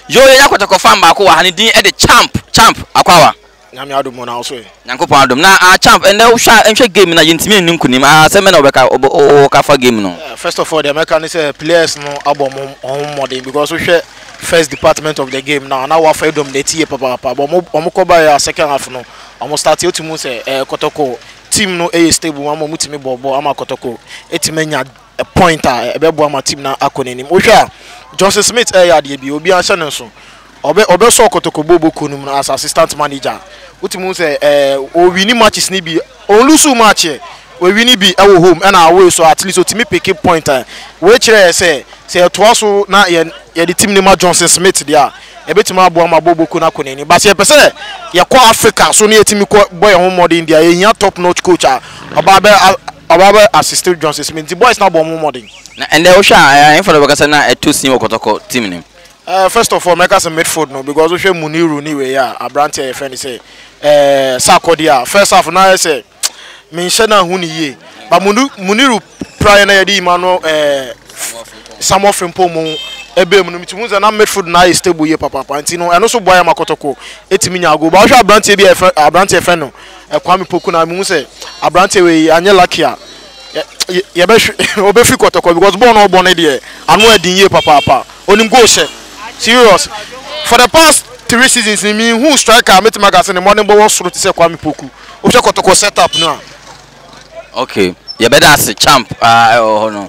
Yoo yɛyɛ akɔtɔkɔ fan baako wɔ ha ne din de champ champ akwawa. Nyame adom o na wo so ɛ. Nyankopɔn adom na ah champ ɛnɛ wo hwɛ a nhwɛ game na yɛntumi nni nkunim ah asɛm bɛn na wobɛka wowɔ ka fa game no. First of all deɛ mɛka ne sɛ players no abɔ ɔmo ɔho mmɔden because wo hwɛ first department of the game no a na wafa dominate yie papaapa but ɔmo ɔmo kɔ baeɛ a second half no ɔmo start wotumi hu sɛ ɛɛ kɔtɔkɔ team no ɛyɛ stable ama ɔmo tumi bɔ bɔɔl ama kɔtɔkɔ ɛtumi anya point a ɛbɛboa ma team no akɔ n'anim wohwɛ a Johnson Smith ɛyɛ adeɛ bi obiara hyɛ ne nso ɔbɛ ɔbɛsɔ kotoko bobo kuo no mu as assistant manager a wotumi hu sɛ ɛɛ owini matches no bi ɔnlusu match ɛ owini bi ɛwɔ home ɛna away so at least otumi pick point a wei kyerɛ yɛ sɛ sɛ yɛtoa so na yɛ yɛde team no ma Johnson Smith deɛ a ɛbɛtumi aboa ma Boboku no akɔ n'anim. But sɛ yɛpɛ sɛ yɛkɔ Africa so na yɛtumi kɔ bɔ yɛn ho mmɔden deɛ a, yɛhia top notch coach a ɔbaa bɛ a ɔbaa bɛ assist Johnson Smith. Nti boys no abɔ wɔn ho mmɔden. Na ɛndɛ wohwɛ a ɛɛ ɛnfa na bɛkasa na ɛtɔ sin wɔ kɔtɔkɔ team no mu. Ɛɛ first of all mɛka sɛ midfield no because wohwɛ Muniru ne wei a abranteɛ a yɛfrɛ no sɛ ɛɛ Sarkodie a first half na ayɛ sɛ. menhyɛ no anhu no yie but Muniru praeɛ na yɛde Emmanuel ɛɛ Samuel Frimpong mu ɛbɛɛ mu no metumi hu sɛ na midfield no ayɛ stable yie papaapa nti no ɛno so boa yɛ ma Kotoko ɛtumi nyaa goal ba wohwɛ aberanteɛ bi a yɛfrɛ aberanteɛ yɛfrɛ no Kwame Poku na mehu sɛ aberanteɛ wei anyɛ lucky a yɛbɛhwɛ ɔbɛfiri Kotoko because bɔɔl na ɔbɔ no deɛ ano ɛden yie papaapa onim goal hyɛ serious for the past three seasons ni mehu striker a mɛtumi aka sɛ ne mmɔdenbɔ wɔ soro te sɛ Kwame Poku Wohwɛ kɔtɔkɔ set up no a. Okay yɛbɛda ase champ aa ɛwɔ hɔ no.